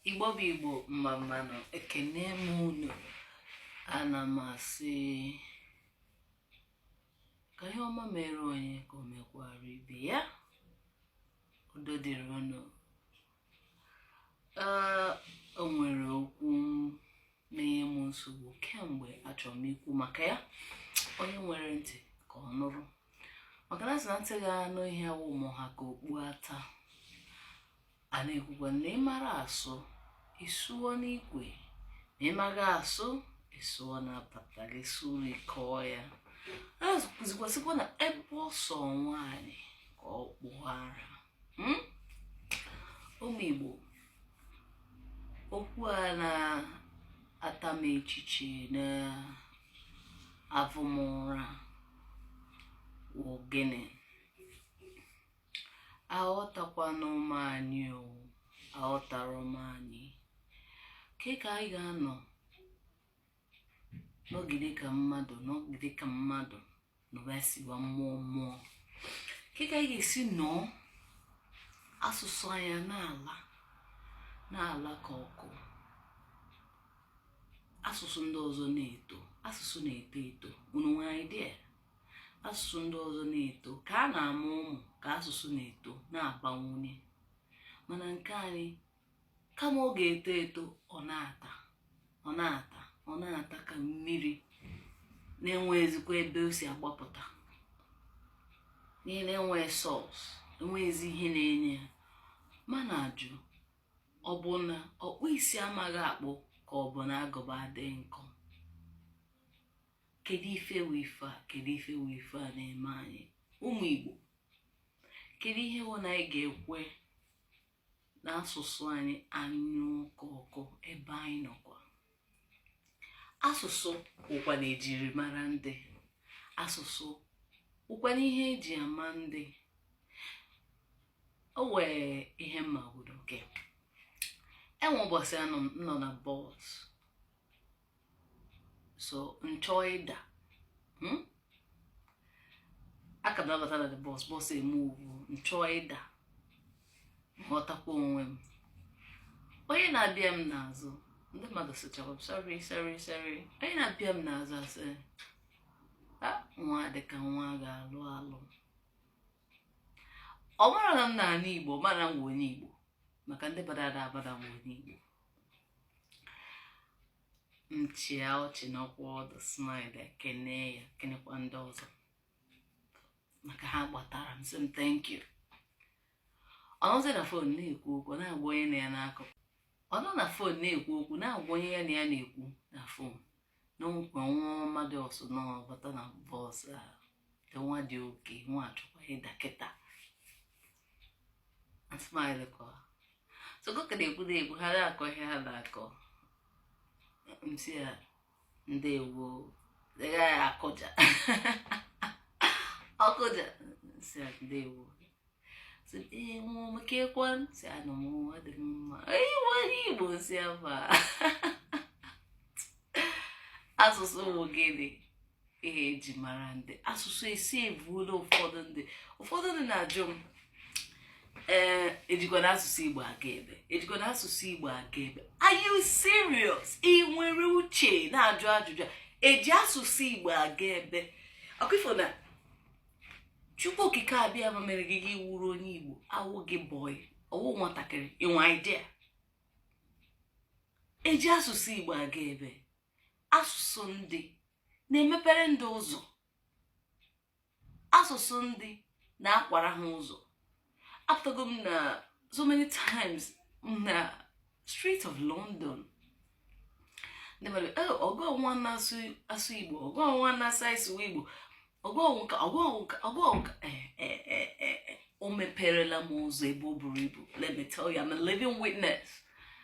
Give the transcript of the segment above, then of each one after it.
igbo bụ igbo mma mma nụ ekene m unu ana m asị ka ihe ọma mere onye ka o mekwara ibe ya udo dịrị unu ee o nwere okwu m na-enye m nsogbu kemgbe achọrọ m ikwu maka ya onye nwere ntị ka ọ nụrụ maka na a sị na ntị ga-anụ ihe awụ ma ọ ha ka okpu ata a na-ekwukwa na ị mara asụ ị sụọ n'ikwe ma ị maghị asụ ị sụọ n'apata gị sụrụ ị kọọ ya a na-ekwuzikwasịkwa na ebe ọ sọ nwaanyị ka ọ kpụọ ara Hmm? ụmụ igbo okwu a na-ata m echiche na-avụ m ụra wụ gịnị aghọtakwanụ m anyị o aghọtara m anyị kee ka anyị ga-anọ nọgide ka mmadụ nọgide ka mmadụ nọba siwa mmụọ mmụọ kee ka anyị ga-esi nọọ asụsụ anyị ana-ala na-ala ka ọkụ asụsụ ndị ọzọ na-eto asụsụ na-eto eto unu nwere idea asụsụ ndị ọzọ na-eto ka a na-amụ ụmụ ka asụsụ na-eto na-abawanye mana nke anyị kama ọ ga-eto eto ọ na-ata ọ na-ata ọ na-ata ka mmiri na-enwezikwa ebe o si agbapụta n'ihi na enwe source enweghịzi ihe na-enye ya m na-ajụ ọ bụ na ọkpụ isi amaghị akpụ ka ọ bụ na agụba adịghị nkọ kedu ife wụ ife a kedu ife wụ ife a na-eme anyị ụmụ igbo kedu ihe wụ na anyị ga-ekwe na asụsụ anyị anyụọ ka ọkụ ebe anyị nọkwa asụsụ wụkwanụ ejirimara ndị asụsụ wụkwanụ ihe eji ama ndị o nwee ihe megodu okay enwe ụbọchị a m nọ na bọs so m chọọ ịda hmm? ọ ka m na-abata na the bọs bọs e move-uo m chọọ ịda m ghọtakwa onwe m onye na-abịa m n'azụ ndị mmadụ sịchara m sorry sorry sorry onye na-abịa m n'azụ asị nwa dịka nwa ga-alụ alụ ọ mara na m na-anụ igbo mara m wụ onye igbo maka ndị bada ada abada nwa onye igbo m chịa ọchị nọkwa ọdụ smile ekene ya kenekwa ndị ọzọ maka ha gbatara m sị m thank you ọ nọzi na fon na-ekwu okwu na-agwa onye ya na ya na-akọ ọ nọ na fon na-ekwu okwu na-agwa onye ya na ya na-ekwu na fon na nekwa nwa ọma dị ụsọ na-abata na bọs a nwa dị okay nwa achọkwa ịda kịta asmile kọwa sogoka na-ekwu na-ekwu ha na-akọ ihe ha na-akọ m sị ya ndewo ya akụja ọ kụja sị ya ndewo sị ee nwa ọma keekwanụ sị anọ m nwa dị m mma ị wụ onye igbo si aba asụsụ bụ gịnị ihe eji mara ndị asụsụ esi ebuola ụfọdụ ndị ụfọdụ ndị na-ajụ m ee ejikwanụ asụsụ igbo aga ebee ejikwanụ asụsụ igbo aga ebee are you serious ị nwere uche na-ajụ ajụjụ a? eji asụsụ igbo aga ebee ọkwa ị fụ na chukwu okike abịama mere gị gị wụrụ onye igbo awụ gị boy ọ wụ nwatakịrị i nwe idea eji asụsụ igbo aga ebee asụsụ ndị na-emepere ndị ụzọ asụsụ ndị na-akwara ha ụzọ apụtago m na so many times na street of london ndị mmadụ ee oh, ọ gị nwa na-asụ asụsụ igbo ọ gị nwa na-asụ asụsụ igbo ọ gị nka ọ gị nka ọ gị nka eh, eh, eh, o meperela m ụzọ ebe o buru ibu let me tell you I'm a living witness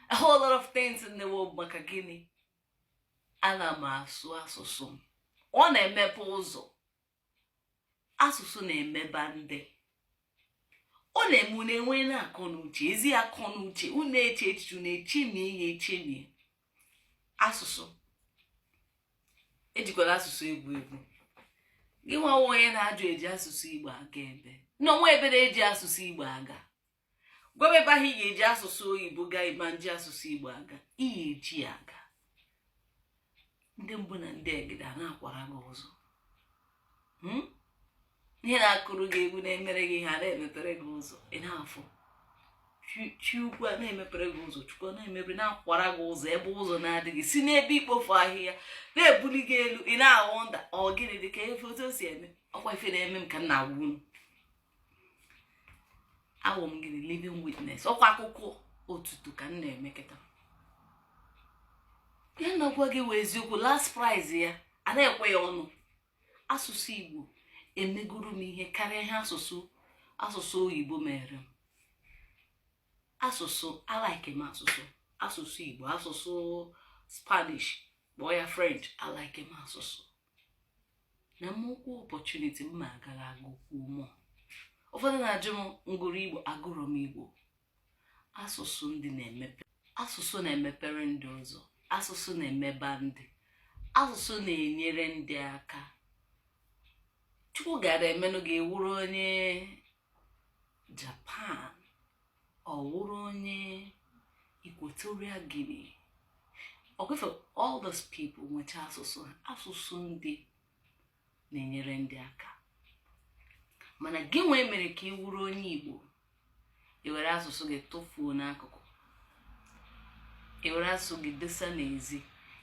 a whole lot of things in the world maka gịnị ana m asụ asụsụ m ọ na-emepe ụzọ asụsụ na-emeba ndị ọ na-eme unu enwe na akọ na uche ezi akọ na uche unu eche echiche unu echemi ihe echemi asụsụ ejikwala asụsụ egwu egwu gị nwa wụ onye na-ajụ eji asụsụ igbo aga ebee na o nwe ebe eji asụsụ igbo aga gwaba m ebe ahụ ị ga-eji asụsụ oyibo gaa ị ma-eji asụsụ igbo aga ihe eji ya aga ndị mbụ na ndị egede a na-akwara gị ụzọ hmm? ihe na-akụrụ gị egwu na-emere gị ihe a na-emepere gị ụzọ ị na-afụ chi ukwu a na-emepere gị ụzọ chukwu na-emepere na-akwara gị ụzọ ebe ụzọ na-adịghị si n'ebe ikpofu ahịhịa na-ebuli gị elu ị na-awụ nda ọ gịnị dị ka efe otu o si eme ọkwa ife na-eme eme ka m na-agwa unu awụ m gịnị living witness ọkwa akụkọ otutu ka m na-eme kịta ihe m na-agwa gị wụ eziokwu last price ya a na-ekwe ya ọnụ asụsụ igbo emegoro m ihe karịa ihe asụsụ asụsụ oyibo meere m asụsụ alike m asụsụ asụsụ igbo asụsụ spanish kpọọ ya french alike m asụsụ na m nwekwu opportunity m ma agara agụkwu more ụfọdụ na-ajụ m m gụrụ igbo agụrụ m igbo asụsụ ndị na-emepe asụsụ na-emepere ndị ụzọ asụsụ na-emeba ndị asụsụ na-enyere ndị aka chukwu gara emenụ ka ị wụrụ onye Japan ọ wụrụ onye Equatorial Guinea ọkwefe all those people nwecha asụsụ ha asụsụ ndị na-enyere ndị aka mana gị nwa e mere ka ị wụrụ onye Igbo ị were asụsụ gị tụfuo n'akụkụ ị were asụsụ gị desa n'ezi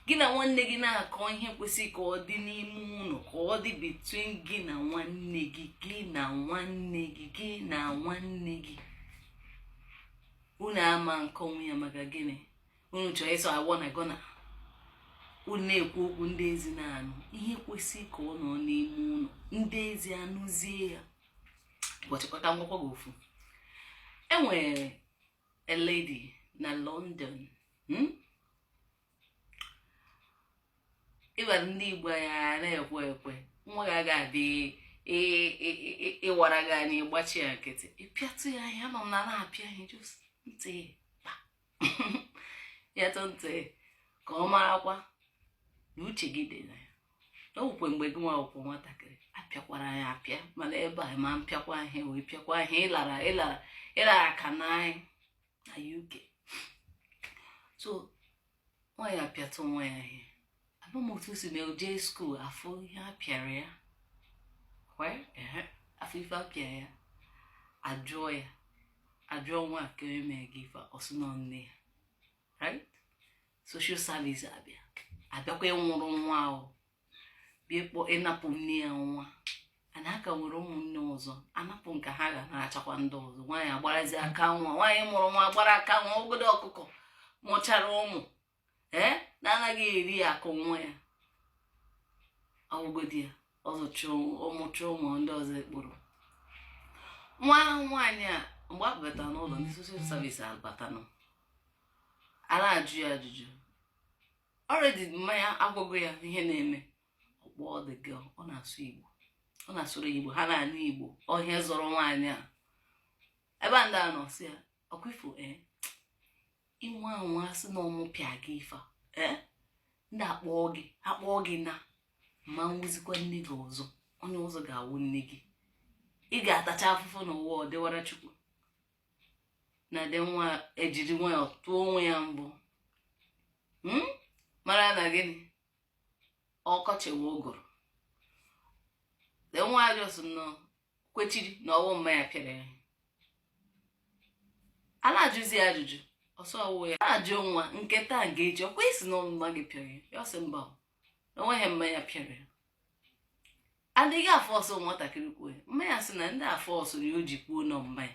gị na nwanne gị na-akọ ihe kwesịrị ka ọ dị n'ime ụlọ ka ọ dị between gị na nwanne gị gị na nwanne gị gị na nwanne gị unu ama nkọnwu ya maka gịnị unu chọọ ịsụ agwọ na gọna unu na-ekwu okwu ndị ezi na-anụ ihe kwesịrị ka ọ nọ n'ime ụlọ ndị ezi anụzie ya ụbọchịkwa ka m gwakwa gị ofu e nwere a lady na London hmm? ị mara ndị Igbo ya na-ekwe ekwe nwa gị aga adị ịwara gị anya ị gbachi ya nkịtị ị pịatụ ya ihe nọ na na-apịa ihe just ntị kpa ya tụ ntị ka ọ marakwa na uche gị dị na ya na ọgwụkwe mgbe gị nwa ka wụ nwatakịrị apịakwara gị apịa mana ebe a ma mpịakwa ihe wee pịakwa ihe ịlara ịlara ịlara ka na anyị na uk so nwaanyị a pịatụ nwa ya ihe ama m otu o si mee jee school a fụ ihe a pịara ya a fụ ife a pịa ya ajụọ ya ajụọ nwa kee onye mee gị ife ọ sị na ọ nne ya right social service abịa abịakwa ịnwụrụ nwa ahụ bịa kpọ ịnapụ nne ya nwa ana aka nwere ụmụnne ọzọ anapụ nke a a ga-anachakwa ndị ọzọ nwaanyị agbarazi aka nwa nwaanyị mụrụ nwa gbara aka nwa ogodo ọkụkọ mụchara ụmụ ee na-anaghị eri akụ nwa ya ọ wụgodi ya ọ zụcha ọ mụcha ụmụ ndị ọzọ ekporo nwa ahụ nwaanyị a mgbe a batara n'ụlọ ndị social service abatanụ a na-ajụ ya ajụjụ already mma ya agwago ya ihe na-eme ọ kpọọ the girl ọ na-asụ igbo ọ na-asụrụ igbo ha na-anụ igbo ọ ihe zọrọ nwaanyị a ebe ndị a nọ sị ya ọkwa ifo ee ị nwaa anwa sị na ọ mụ pịa gị ife ee ndị a kpọọ gị akpọọ gị na m ma nwụzikwa nne gị ọzọ onye ọzọ ga-awụ nne gị ị ga-atacha afụfụ n'ụwa ọ dịwara chukwu na the nwa ejiri nwayọ tụọ onwe ya mbọ hmm? mara na gịnị ọkọchị nwe ụgụrụ the nwa just nọ kwechiri na ọ wụ mma ya pịara ya a na-ajụzi ya ajụjụ ọ sị ọ wụ ya a na-ajụ nwa nke taa nke echi ọkwa ị sị na ọ wụ mma gị pịara ya ya ọ sị mba na ọ wụghị mma ya pịara ya ndị a afọsụọ nwatakịrị kwuo ya mma ya sị na ndị a fọsụ ya o ji kwuo na ọ mma ya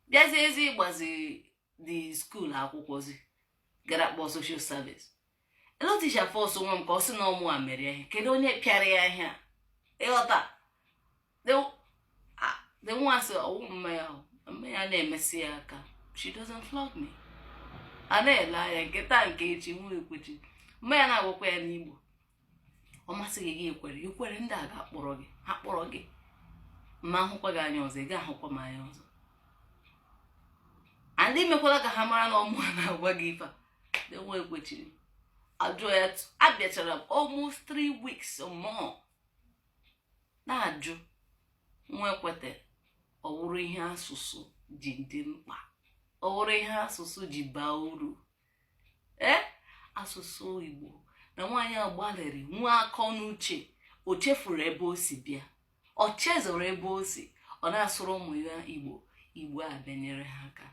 bịazie ezi ịgbazi the school akwụkwọzi gara kpọọ social service ee na teacher afọsụọ nwa m ka ọ sị na ọ mụwa mere ya ihe kedu onye pịara ya ihe a ị ghọta the nwa sị ọ wụ mma ya mma ya na-emesi ya aka she doesn't flog me a na-ele anya nke taa nke echi nwa ekwechi mma ya na-agwakwa ya n'igbo ọ masị gị kwere i kwere ndị a ga-akpọrọ gị ha kpọrọ gị ma ahụkwa gị anya ọzọ ị ga-ahụkwa m anya ọzọ and emekwala ka ha mara na ọ mụwa na-agwa gị ife a nwa ekwechiri ajụọ ya abịachara almost three weeks or more na-ajụ nwa ekwete ọ wụrụ ihe asụsụ ji dị mkpa ọ wụrụ ihe asụsụ ji baa uru ee asụsụ igbo na nwaanyị a gbalịrị nwee akọ na uche o chefuru ebe o si bịa o chezọrọ ebe o si ọ na-asụrụ ụmụ ya igbo igbo abịa nyere ha aka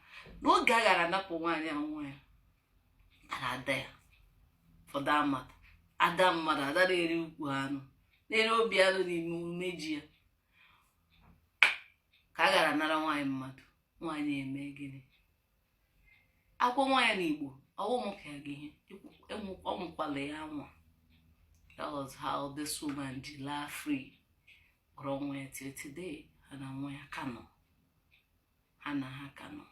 n'oge a gaara anapụ nwaanyị a nwa ya ara ada ya for that matter ada mmadụ ada na-eri ukwu anụ na-eri obi anụ n'ime umeji ya ka a gaara anara nwaanyị mmadụ nwaanyị eme gịnị agwa nwa ya n'igbo ọ wụ mụ ka ya gị ihe anwakwala ya anwa that was how this woman ji laa free kpọrọ nwa ya till today ha na nwa ya ka nọ ha na ha ka nọ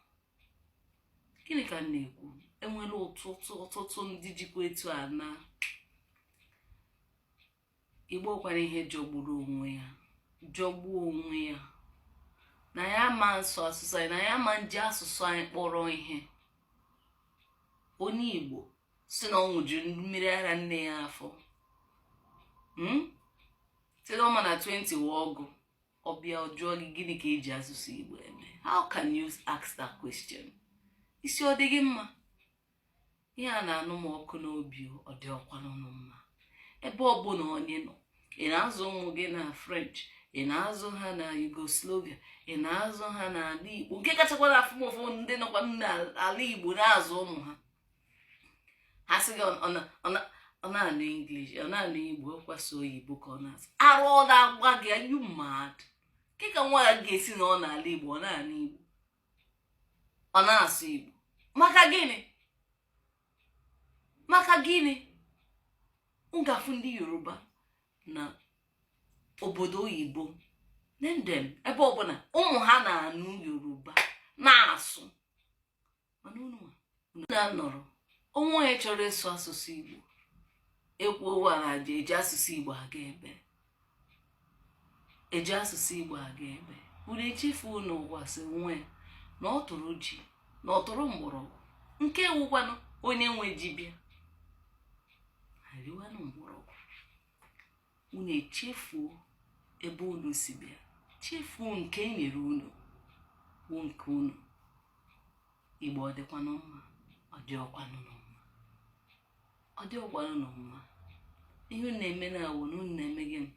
gịnị ka m na-ekwu e nwere ọtụtụ ọtụtụ ndị jikwa etu a na igbo kwara ihe jọgburu onwe ya jọgbuo onwe ya na ya ma nsụ asụsụ anyị na ya ma nji asụsụ anyị kpọrọ ihe onye igbo sị na ọ ṅụjuru mmiri ara nne ya afọ hmm? sị na ọ ma na 20 wụ ọgụ ọ bịa ọ jụọ gị gịnị ka eji asụsụ igbo eme how can you ask that question isi ọ dị gị mma ihe a na-anụ m ọkụ n'obi ọ dịhọkwanụ mma ebe ọbụla onye nọ ị na-azụ ụmụ gị na french ị na-azụ ha na yugoslavia ị na-azụ ha n'ala igbo nke kachakwa na-afụ m ụfụ ndị nọkwa n'ala igbo na-azụ ụmụ ha ha sị gị ọ na-anụ English ọ na-anụ Igbo ọkwa sọ oyibo ka ọ na-asụ ara ọ na-agba gị are you mad kee ka nwa ya ga-esi nọ n'ala Igbo ọ na-anụ Igbo ọ na-asụ Igbo maka gịnị maka gịnị ị ga-afụ ndị Yoruba na obodo oyibo name them ebe ọbụla ụmụ ha na-anụ Yoruba na-asụ mana unu na-anọrọ o nwee onye chọrọ ịsụ asụsụ igbo ekwuo a na-aga eji asụsụ igbo aga ebee eji asụsụ igbo aga ebee unu echefuo na ụwa sị onwe ya na ọ tụrụ ji na ọ tụrụ mgbọrọgwụ nke wụkwanụ onye nwe ji bịa ya riwanụ mgbọrọgwụ unu echefuo ebe unu si bịa chefuo nke e nyere unu wụ nke unu igbo ọ dịkwanụ mma ọ dịhọkwanụ mma ọ dịhọkwanụ mma ihe unu na-eme na-awụ na unu na-eme gịnị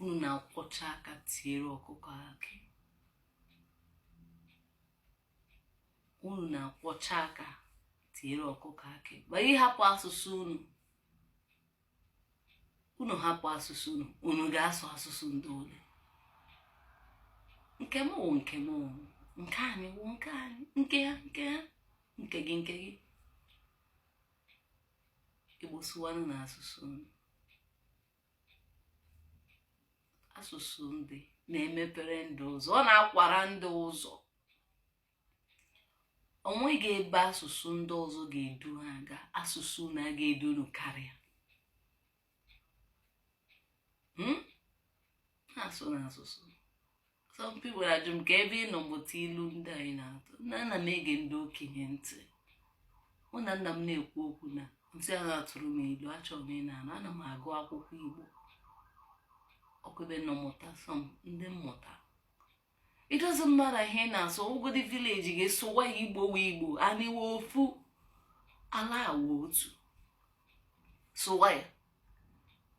unu na-akwọcha aka tiere ọkụkọ akị unu na-akwọcha aka tiere ọkụkọ akị ma ị hapụ asụsụ unu unu hapụ asụsụ unu unu ga-asụ asụsụ ndị ole nke m wụ nke m nke anyị wụ nke anyị nke ha nke ha nke gị nke gị igbo sụwanụ na asụsụ unu asụsụ ndị na-emepere ndị ụzọ ọ na-akwara ndị ụzọ onweghị ebe asụsụ ndị ọzọ ga-edu ha aga asụsụ na a ga-edu unu karịa hmm? na-asụ na asụsụ some people ajụọ m kee ebe ị nọ mụta ilu ndị a ị na-atụ nna ana m ege ndị okenye ntị mụ na nna m na-ekwu okwu na m sị ya tụọrọ m ilu achọrọ m ịna anụ ana m agụ akwụkwọ igbo ọkwa ebe m nọ mụta some ndị m mụta it doesn't matter ihe ị na-asụ ọ wụgodi village gị sụwa ya igbo wụ igbo anyị wụ ofu ala wụ otu sụwa ya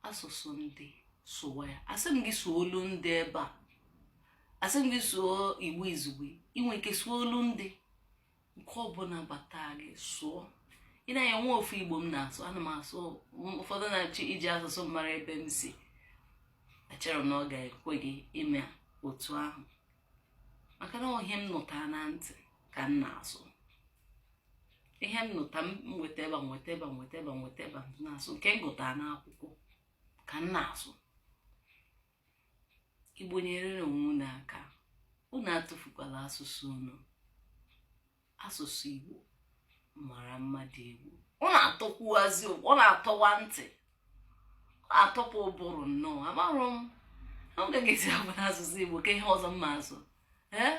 asụsụ ndị sụwa ya asị m gị sụọ olu ndị ebe a asị m gị sụọ igbo izugbe i nwe ike sụọ olu ndị nke ọbụla bata gị sụọ ị na-anya nwa ofu igbo m na-asụ ana m asụ ụfọdụ na-achọ iji asụsụ mara ebe m si echere m na ọ ga-ekwe gị ime otu ahụ maka na ọ ihe m nụta na ntị ka m na-asụ ihe m nụta m nweta ebe nweta ebe na-asụ nke m gụta n'akwụkwọ ka m na-asụ igbo nyere onwe unu aka unu atụfukwala asụsụ unu asụsụ igbo mara mma dị egwu ọ na-atọkwuazi ọ na-atọwa ntị ọ na-atọpụ ụbụrụ nnọọ amarụ m ọ ga-esi abụ na asụsụ igbo ka ihe ọzọ mma asụ ee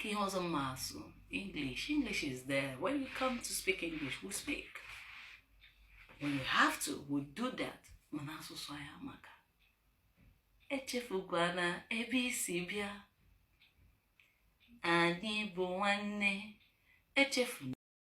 Ihe ọzọ mma asụ. English. English is there. When you come to speak English, we speak. When we have to, we do that. Mana asụsụ anyị amaka. Echefukwana ebe i si bịa. Anyị bụ nwanne. Echefuna.